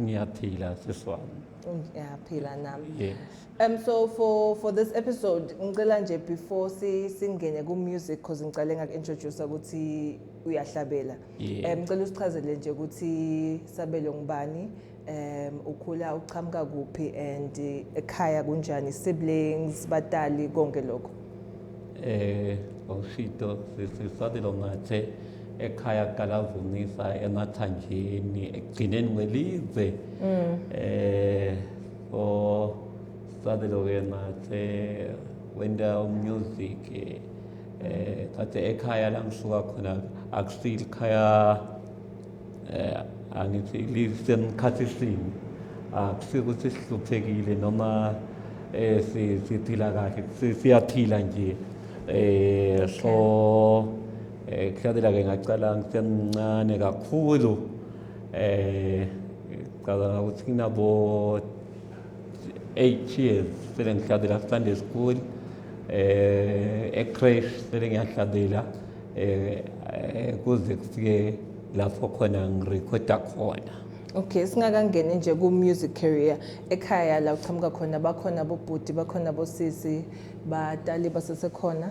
ngiyaphila sisi wami ngiyaphila nami yes Um, so for, for this episode ngicela nje before si, singene ku-music cause ngicale ngaku-introduce ukuthi uyahlabela Yeah. um ngicela usichazele nje ukuthi sabelo ngubani um ukhula uqhamuka kuphi and eh, ekhaya kunjani siblings batali konke lokho eh awushito sisisabelo ngathi ekhaya kuqalavuncisa emathanjeni ekugcineni kwelizwe mm. eh so sadeloke ngathi wenda umusic eh kathi ekhaya la ngisuka khona akusile ikhaya eh angithi lisemkhathi sini akusike ukuthi sihluphekile noma eh siphila kahle siyaphila nje eh so Eh kuhlathela ke ngacala ngisemncane kakhulu eh ngicabanga ukuthi nginabo 8 years sele ngihlathela Sunday school eh ecrash sele ngiyahlathela eh, eh kuze kufike lapho khona ngirekhoda khona Okay singakangeni nje ku music career ekhaya la uqhamuka khona bakhona bobhuti bakhona bosisi batali basesekhona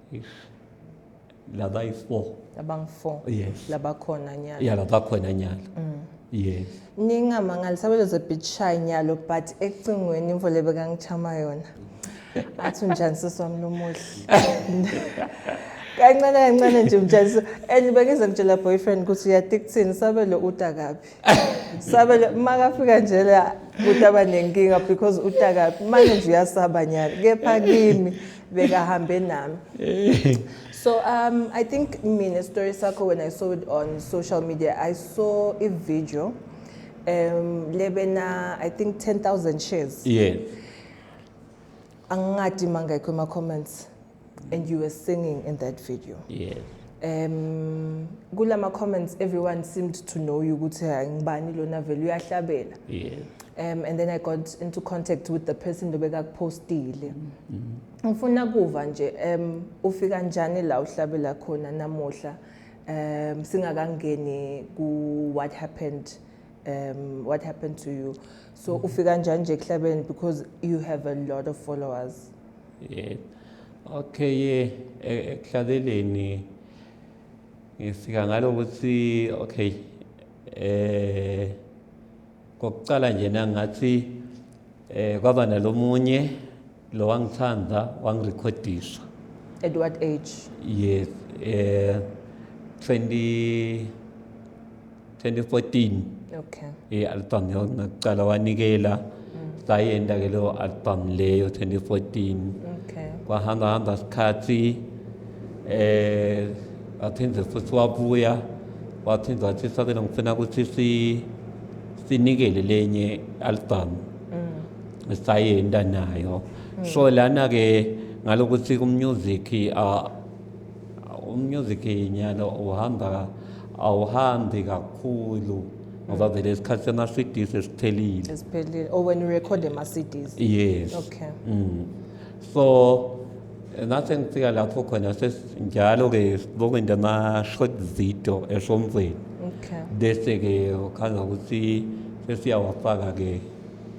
Eish. Laba yi four. Abang four. Yes. Laba khona nyalo. Yeah, laba khona nyalo. Mm. Yes. Ningamangala sabelo ze beach shy nyalo but ecingweni imvole bekangichama yona. Athi unjani sisi wami lomuhle. kancane kancane nje mjaliso and bengize ngitshela boyfriend ukuthi uyati kuthini sabelo uta kabi sabelo makafika nje la kutaba nenkinga because uta kabi manje nje uyasaba nyala kepha kimi bekahambe nami eh. so um i think mina story sakho when i saw it on social media i saw a video um lebena i think 10000 shares yeah angingadi mangekho ema comments and you were singing in that video yeah um kulama comments everyone seemed to know you ukuthi hayi ngibani lona vele uyahlabela yeah um and then i got into contact with the person lobekakupostile mm-hmm. ngifuna kuva nje um ufika njani la uhlabela khona namuhla um singakangeni ku what happened um what happened to you so mm-hmm. ufika njani nje kuhlabeni because you have a lot of followers Yebo. Okay e, ekuhlazeleni ngisika ngalo ukuthi okay eh kokucala nje nangathi eh kwaba nalomunye lo wangithanda wangirekhodisa at what age yes eh 20 2014 okay i-album yona kuqala wanikela sayenda ke leyo album leyo 2014 okay kwahamba hamba isikhathi eh waphinde futhi wabuya waphinde wathi sabela ngifuna ukuthi si sinikele lenye album mm. sayenda nayo so lana ke ngalokuthi ku music a Umusic nyalo uhamba awuhambi kakhulu ngoba vele isikhathi sema CDs esiphelile. Esiphelile. Oh when you record ama CDs. Yes. Okay. Mm. So ngathi ngifika lapho khona sesinjalo ke sibuka into ama short video esomfweni. Okay. Bese ke ukhala ukuthi sesiyawafaka ke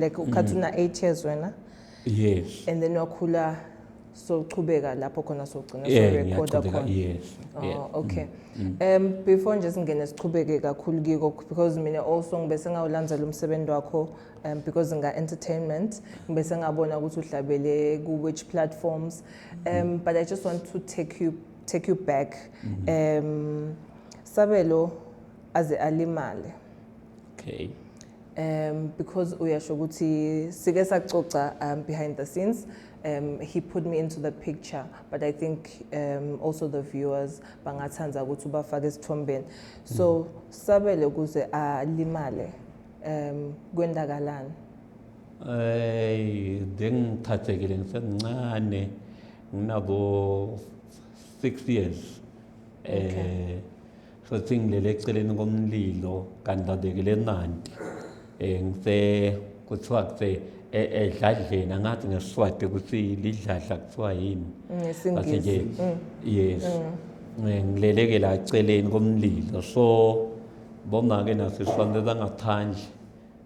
like ukhathi una 8 years wena yes and then wakhula sochubeka lapho khona sogcina Yeah, sorecorda ngiyaqhubeka, khona yes, Oh, yeah. okay um before nje singene sichubeke kakhulu kiko because mina also ngibe sengawulandzela umsebenzi wakho um because nga-entertainment ngibe sengabona ukuthi uhlabele ku-which platforms um but i just want to take you, take you back um sabelo aze alimale okay um because uyasho ukuthi sike sacoca um, behind the scenes um, he put me into the picture but i think um, also the viewers bangathanda ukuthi ubafake esithombeni so mm. sabele ukuze alimale um kwendakalani ay bengithathekile ngisemncane nginabo 6 years okay. eh Sothi ngilele eceleni komlilo kanti babekele emanti um ngise kuthiwa kuse edladleni angathi ngesiswati ukuthi lidladla kuthiwa yini bathi nje mm. yes mm. eh, ngileleke la celeni komlilo so bomake nasisonto zangaphandle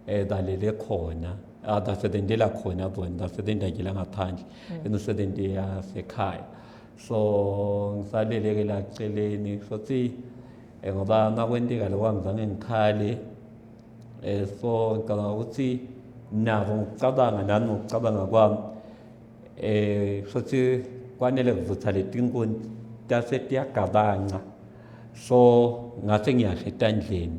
um balele khona ah, basebenzela khona bona basebenzakela ngaphandle mm. emisebenzi yasekhaya so ngisaleleke la celeni sothi eh, ngoba makwenteka lokho angizange ngikhale eh, so ngicabanga ukuthi nabo ngicabanga nami ngokucabanga kwami eh sothi kwanele kuvutha letinkuni tase tiyagabanca so ngase ngiyashe etandleni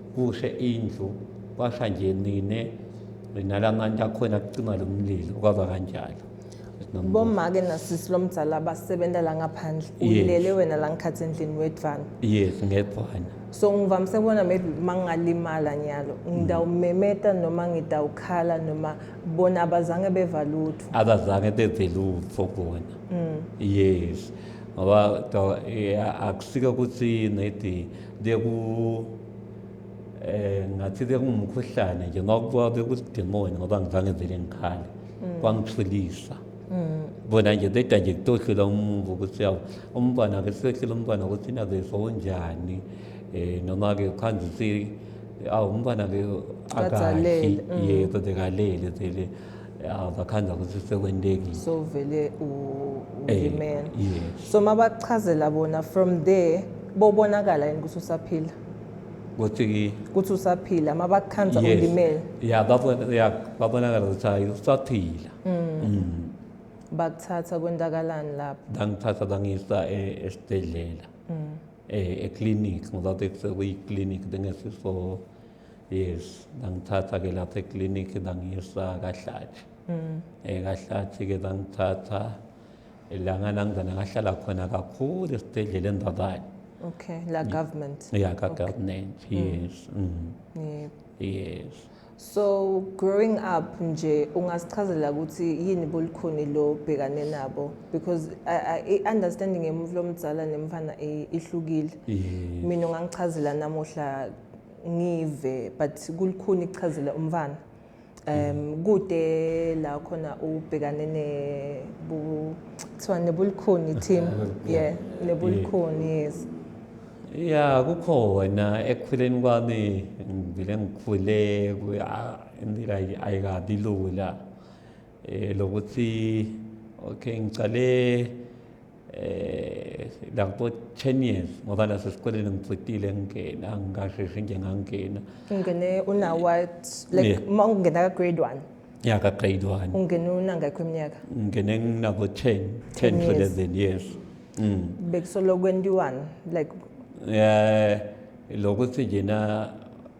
kushe indlu kwasha nje nine nala mantu akhona kucima lo mlilo kwaba kanjalo bomake nasisi lomdzala abasebenza la ngaphandle ulele wena la ngikhathi endlini wedvana yes ngedvana so ngivamise kubona maybe uma ngingalimala nyalo ngidawumemeta noma ngidawukhala noma bona abazange beva lutho abazange beve lutho bona mm. yes ngoba akusike ukuthi nedi Kuye ku eh ngathi ke kungumkhuhlane nje ngokuba bekusidemoni ngoba ngizange vele ngikhale kwangithulisa bona nje beda nje kutohlula umuntu ukuthi yawu umntwana ke sehlula umntwana ukuthi nabe sonjani eh noma ke khanjisi awu umntwana ke akashi Kadzalele, mm. yebo bekalele vele ya bakhanza ukuthi sekwentekile so vele ulimela eh, yes. so mabachazela bona from there bobonakala yini ukuthi usaphila ukuthi ukuthi usaphila mabakhanza yes. ulimele ya babona ya babonakala ukuthi hayi usaphila mm. mm. bakuthatha kwendakalani lapho ngangithatha bangisa e, esibhedlela mm. eh eclinic ngoba bekusekuyiclinic bengesiso yes ngangithatha ke lapha eclinic ngangiyisa kahlathi mm. eh kahlathi ke ngangithatha langa nangizana ngahlala khona kakhulu esibhedlela endabani okay la mm. government yeah ka okay. government mm. yes mm. Mm. Yeah. yes so growing up nje ungasichazela ukuthi yini bolukhuni lo bhekane nabo because i understanding emuva lomdzala nemfana ihlukile mina ungangichazela namuhla ngive but kulikhuni ichazile umfana um kude la khona ubhekane ne bu kuthiwa nebulikhuni team yeah nebulikhuni yes ya kukhona ekukhuleni kwami ngivele ngikhule indlela ayikabi lula eh lokuthi okay ngicale eh la kubo 10 years ngoba la sesikoleni ngicitile ngingena ngingasheshe nje ngangena ungene una what like Yeah. uma ungena ka grade 1 ya ka grade 1 ungene unangakho iminyaka ngingene nginabo 10 10 10 to years. 11 years mm bekusolo kwentiwani like eh lokuthi njena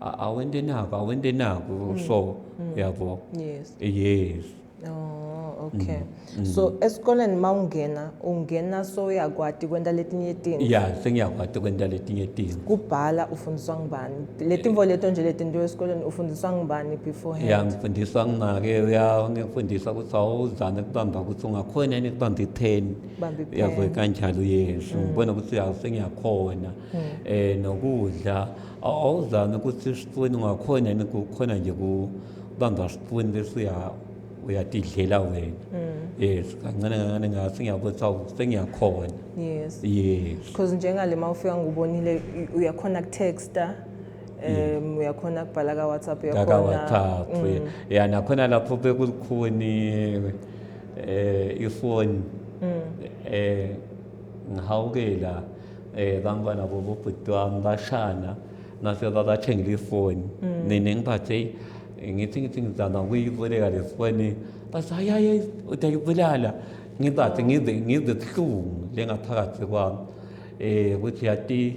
A- awente naku awente naku Mm. so yabo yes yes Oh, okay. Mm, So esikoleni mawungena ungena soyakwati kwenta letinye izinto. ya sengiyakwati kwenta letinye timo Kubhala ufundiswa ngubani? Letimvo leto nje letinto esikoleni ufundiswa ngubani beforehand? ya ngifundiswa ngimake uya ngifundisa ukuthi awuzame kubamba ukuthi ungakhona yini kubamba ipheni Bamba ipen. yabo kanjalo yesu ngibona ukuthi ya sengiyakhona um nokudla awuzame ukuthi isipuni ungakhona yini kukhona nje kubamba sipuni bese uyatidlela wena mm. yes kancane kancane ngathi ngiyabona sawu sengiyakhona yes yes because njengale uma ufika ngubonile uyakhona kutexta um uyakhona kubhala ka WhatsApp uyakhona ka WhatsApp mm. ya nakhona lapho bekulikhuni eh ifoni mm. eh ngihawukela eh bantwana bobo bhuti wami bashana ngase babathengela ifoni mm. nina ngiphathe ngithi ngithi ngizama ukuyiboleka le foni bathi hayi hayi utayibulala ngizathi ngize ngize buhlungu lengaphakathi kwami um ukuthi yati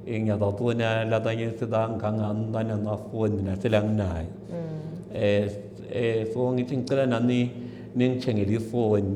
eh, ngiyababona labanye sebangangami banamafoni mina selanginayo um mm. eh, eh, so ngithi ngicela nami ningithengele ifoni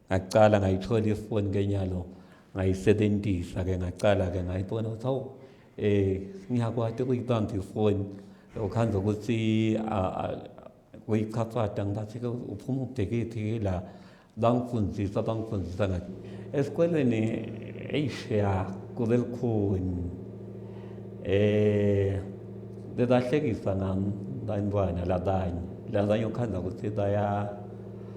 ngacala ngayithola ifoni kenyalo ngayisebenzisa ke ngacala ke ngayibona ukuthi hawu eh ngiyakwati ukuyibamba ifoni ukhanda ukuthi kuyichafada ngathi ke uphuma ubhekephi la bangifundisa bangifundisa ngathi esikolweni eish ya kube lukhuni eh bebahlekisa nami bantwana labanye labanye ukhanda ukuthi baya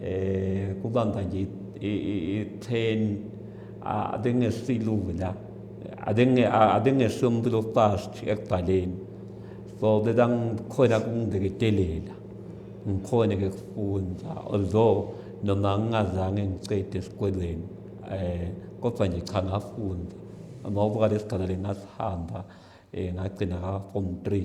eh kubanga nje i-train abengesilula abengesomuntu lofast ekubhaleni so bebangikhona kungibeketelela ngikhona ke kufunda although noma ngingazange ngicede esikolweni eh kodwa nje cha ngafunda ngoba lesigaba lengasihamba eh ngagcina ka form 3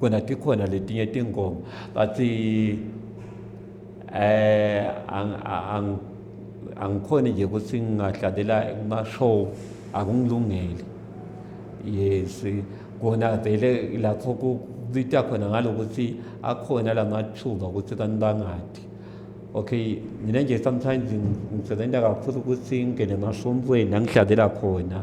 kona tikhona letinye tingoma but eh angikhoni nje ukuthi ngingadlalela kuma-show akungilungeli yes kona vele lapho kubita khona ngalokuthi akhona la mathuba ukuthi kanti bangadi okay mina nje sometimes ngisebenza kakhulu ukuthi ngingene emasontweni angidlalela khona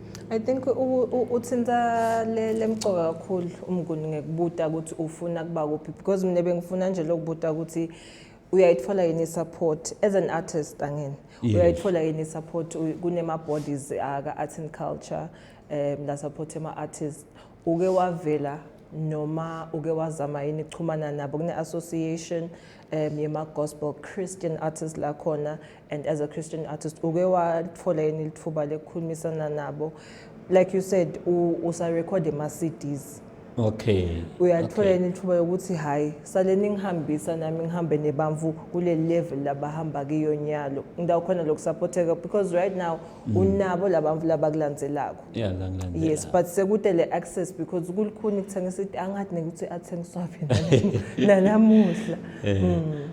I think uthinta le lemcoka kakhulu umnguni ngekubuta ukuthi ufuna kuba kuphi because mina bengifuna nje lokubuta ukuthi uyayithola yini support as an artist angene uyayithola yini support kunema bodies aka art and culture um la support ema artists uke wavela noma uke wazama yini kuchumana nabo kune association um yema gospel christian artists la khona and as a christian artist uke wathola yini lithuba lekukhulumisana nabo like you said usarekhode ama-cds okay uyathola yini lithuba yokuthi hhayi sale ningihambisa nami ngihambe nebamvu kule level labahamba kiyo nyalo indawo khona lokusaphotheka because right now mm. unabo labamvu labakulandzelako yeah, yes but sekude le access because kulikhuni kuthengisa angathi nekuthi athengiswaphi nanamuhla eh. mm.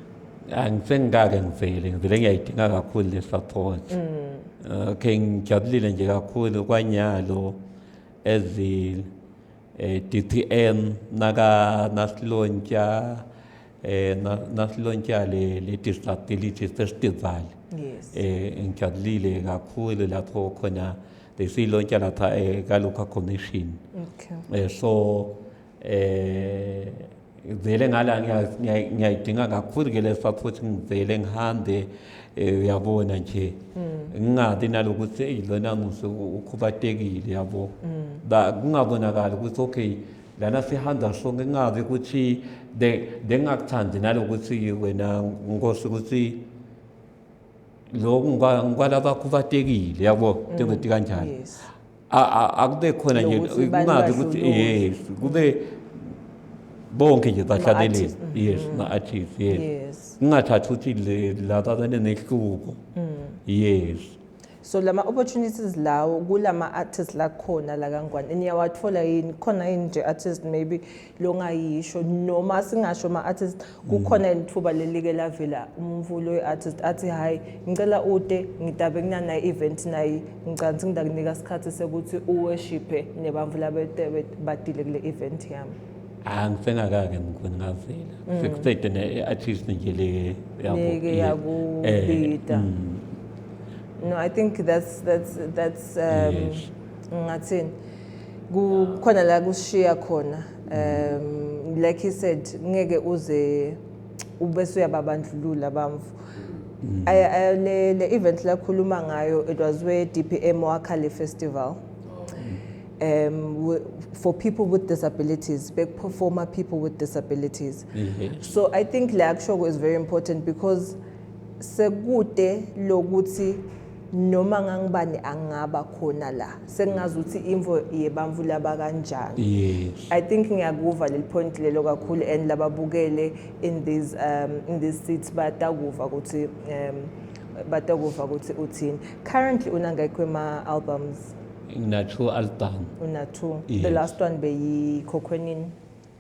angisengikake ngivele ngivele ngiyayidinga kakhulu le support mm. okay ngijabulile nje kakhulu kwanyalo ezi eh, DTM naka nasilontsha eh nasilontsha le le disability festival yes eh ngijabulile kakhulu lapho khona besilontsha lapha eh ka local commission okay eh so eh ngizele ngala ngiyayidinga kakhulu ke le support ngizele ngihambe eh, uyabona nje hmm. ngingabi nalokuthi eyilona ngise ukhubatekile yabo hmm. ba kungabonakala ukuthi okay lana sihamba sonke kungabi ukuthi bengakuthandi nalokuthi wena nkosi ukuthi lokhu ngikwalabakhubatekile yabo hmm. njengokuthi kanjani akube khona nje Nokuthi bani kungazi ukuthi badlulule. yes kube bonke nje bahlabelela Ma-artist, mhm. yes ma-artist yes Yes. kungathathi ukuthi le- laba banenehluko yes so lama opportunities lawo kulama artists la khona la kangwane niyawathola yini khona yini nje artist maybe longayisho noma singasho ama-artist kukhona ithuba lelike lavela umvulo we-artist athi hhayi ngicela ude ngitabe kunana-event naye ngicansi ngidakunika isikhathi sekuthi uweshiphe nebamvula betebe badile kule event yami hayi ngisengakake mkhulu ngavela mm. sekuqede ne-artist nje le yakubida eh, mm. no i think that's that's that's um ngathini kukhona la kushiya khona um like he said ngeke uze ubese uyababandlulula bamfu mm. le le event lakhuluma ngayo it was where DPM wakhale festival um, for people with disabilities, big performer people with disabilities. Mm -hmm. So I think Leakshogo is very important because sekute lokuti noma ngangibani angaba khona la sengingazi ukuthi imvo yebamvu laba kanjani yes. i think ngiyakuva leli point lelo kakhulu and lababukele in this um, in this seat batakuva ukuthi um, batakuva ukuthi uthini currently unangekho ema albums ngina two album una two yes. the last one beyikhokhwenini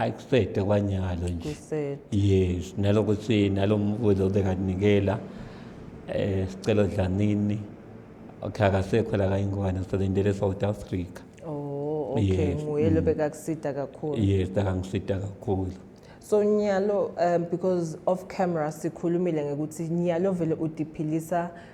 akusede kwanyalo nje yes naloko si nalo mvuzo obekaninikela eh sicelo dlanini okay akasekho la kayingwane sisalindele South Africa oh okay nguye lo mm. bekakusida kakhulu yes akangisida kakhulu so nyalo um because off camera sikhulumile ngekuthi nyalo vele udiphilisa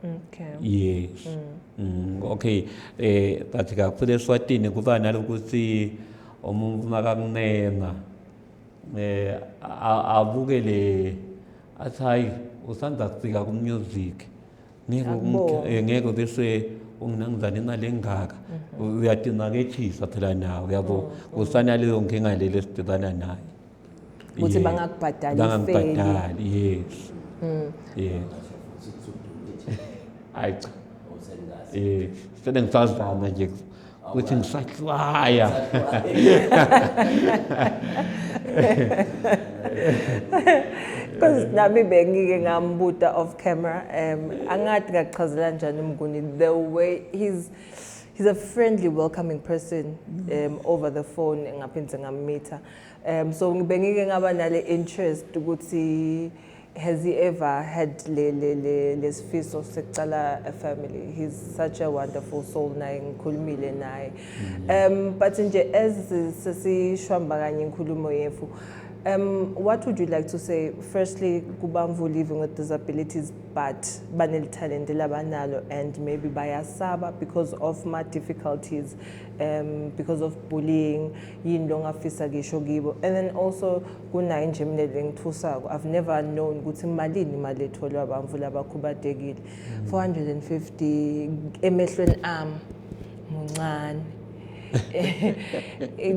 Okay. Yes. Mm. Mm. Okay. Eh but kakhulu eSwatini kuba nalokuthi umuntu makakunenga eh abuke le athi hayi usanda kufika kumusic ngeke Akubona. eh, ngeke bese unginangizane imali engaka uyadinakethisa phela nawe yabo kusana leyo nkinga leli esidibana nayo ukuthi bangakubhadali bangakubhadali yes mm. yes hayi cha eh sele ngisazana nje ukuthi ngisahlwaya because nami bengike ngambuta off camera um angathi ngachazela njani umnguni the way he's he's a friendly welcoming person um over the phone ngaphinde ngamitha um so bengike ngaba nale interest ukuthi has he ever had le le le lesifiso sekucala a family he's such a wonderful soul naye ngikhulumile naye mm-hmm. um but nje as sesishwamba kanye inkulumo yethu Um, what would you like to say? Firstly, Kubamvu living with disabilities, but banel talent labanalo, and maybe by Asaba because of my difficulties, um, because of bullying. yini lo ngafisa kisho kibo and then also kunayi nje mina lengithusako i've never known ukuthi malini imali etholwa abantu labakhubadekile 450 mm. emehlweni am muncane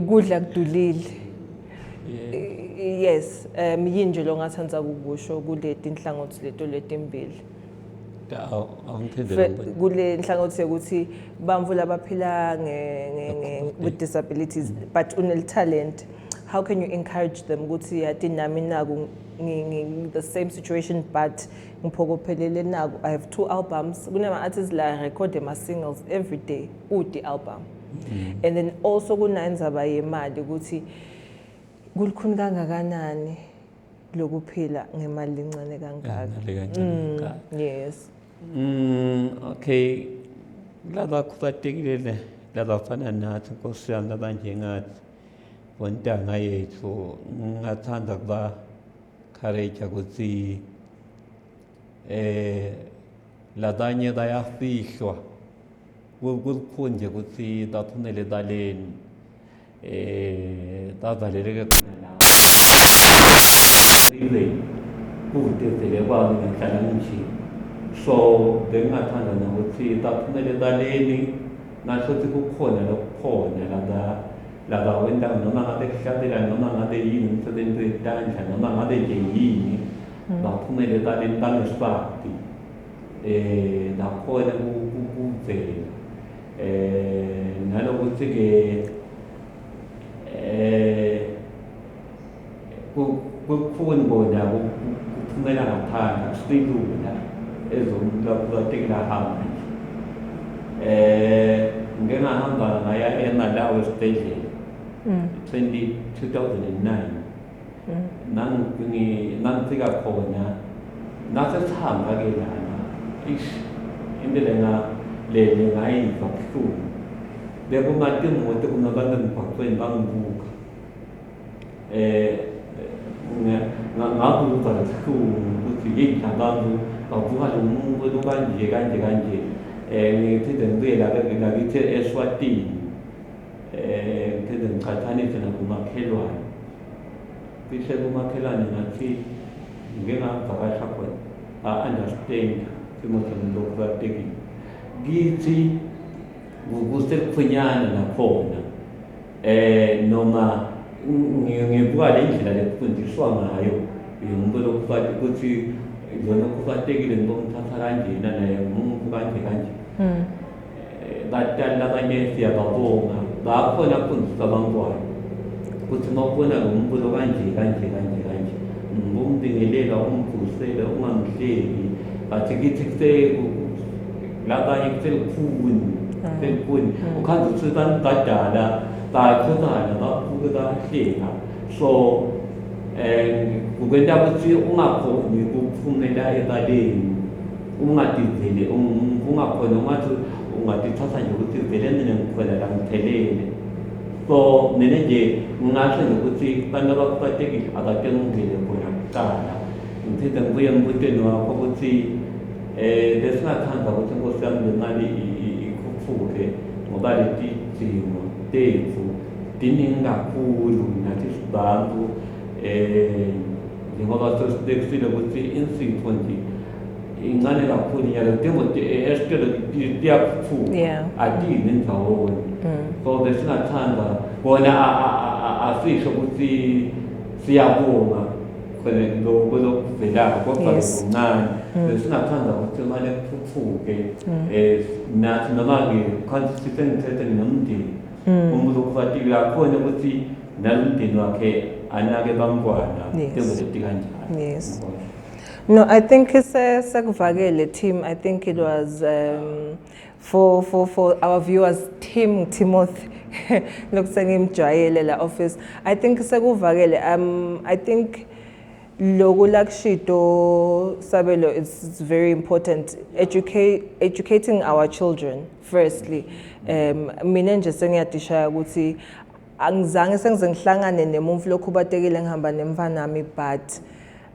kudla kudulile yes um yini nje lo ngathanda kukusho kuleti nhlangothi leto letimbili kule nhlangothi yokuthi bamvu labaphila with disabilities but uneli talent how can you encourage them ukuthi yati nami naku the same situation but ngiphokophelele naku i have two albums kunama-artists la record ama-singles every day ude album mm. and then also kunanzaba yemali ukuthi kulikhuni kangakanani lokuphila ngemali encane kangaka mm, yes mm, okay laba khubatekile le laba fana nathi nkosi yami laba njengathi bontanga yethu ngingathanda kuba courage ukuthi eh labanye bayafihlwa kukhonje ukuthi baphumele baleni Eh bavaleleke khona la. Ibe kudedele kwami ngihlala nje. So bengingathanda nokuthi baphumele ebaleni ngasho ukuthi kukhona lokukhona laba laba wendawo noma ngabe kuhlabela noma ngabe yini umsebenzi wetandla noma ngabe nje yini mm. baphumele ebaleni bangesibadi um nakhona kuvela eh nalokuthi ke eh kukhona bona kuphumela ngaphandle kusilula ezomlapha tekla hamba eh ngike ngahamba ngaya eMalawi esibhedlela 2009 ngangifika khona ngase sihamba ke lana ish into lena lele ngayizwa buhlungu bekumati imoto kunabantu emgwaqweni bangibuka eh ngabuka buhlungu ukuthi yini labantu bavuka lo muntu lokanje kanje kanje um eh, ngiphinde ngibuye lakithi eswatini ngiphinde ngiqhathanise nakumakhelwane cishe kumakhelwane ngathi ngike ngavakasha khona a-understand isimo somuntu okubalulekile kithi kusekuphunyana nakhona um noma ngibuka le ndlela lekufundiswa ngayo yomuntu lokufati ukuthi lona okufatekile ngoba umthatha kanjena naye umuntu kanje kanje hmm. batali labanye siyababonga bakhona kufundisa abantwana ukuthi uma ubona lo mbulo kanje kanje kanje kanje ngombingelela umvusele ungamhleki bathi kithi labanye kuselukhuni ah. selukhuni ah. ukhanda ukuthi abantu badala bayaxhumana babuke bahleka so um kukwenta ukuthi ungakhoni ukuphumela ebaleni Ungathi vele ungakhona ungathi ungatithatha nje ukuthi vele mina ngikhona la ngiphelele so mina nje ngingasho nje ukuthi abantu abakhubazekile akatengungile khona kuqala ngiphinde ngibuye embutweni wakho ukuthi um besingathanda ukuthi inkosi yami le mali ikhuphuke ngoba leti dingo tethu diningi kakhulu nathi sibantu um njengoba sesitekisile ukuthi insipho nje incane kakhulu inyanga kudinga esitolo kuyaphuma Yeah. adiyi nendawo Mm. so besingathanda bona a- a- a- a- asisho ukuthi siyabonga khona lo- kwelokuvelako kodwa Yes. kuncane Mm. besingathanda ukuthi imali ethuthuke Mm. um nathi noma-ke khanti sisengithethe nomndeni Mm. umuntu okufatikile yakhona ukuthi nalomndeni wakhe anake bamntwana Yes. njengokuthi kanjalo Yes. Yabona? No, I think sekuvakele team. I think it was um, for for for our viewers team Timothy lokusengimjwayele la office. I think sekuvakele um I think loku lakushido sabelo it's very important educate educating our children firstly um mina nje sengiyadishaya ukuthi angizange sengize ngihlangane nemuntu lokhu batekile ngihamba nemfanami but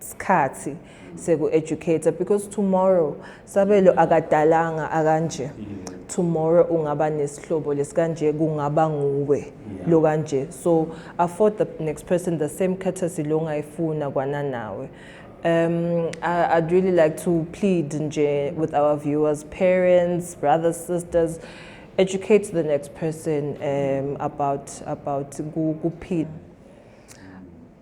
skhathi seku educator because tomorrow sabelo akadalanga akanje tomorrow ungaba nesihlobo lesikanje kungaba nguwe lo kanje so afford the next person the same courtesy lo ngayifuna kwana nawe Um, I, I'd really like to plead nje with our viewers, parents, brothers, sisters, educate the next person um, about about kuphila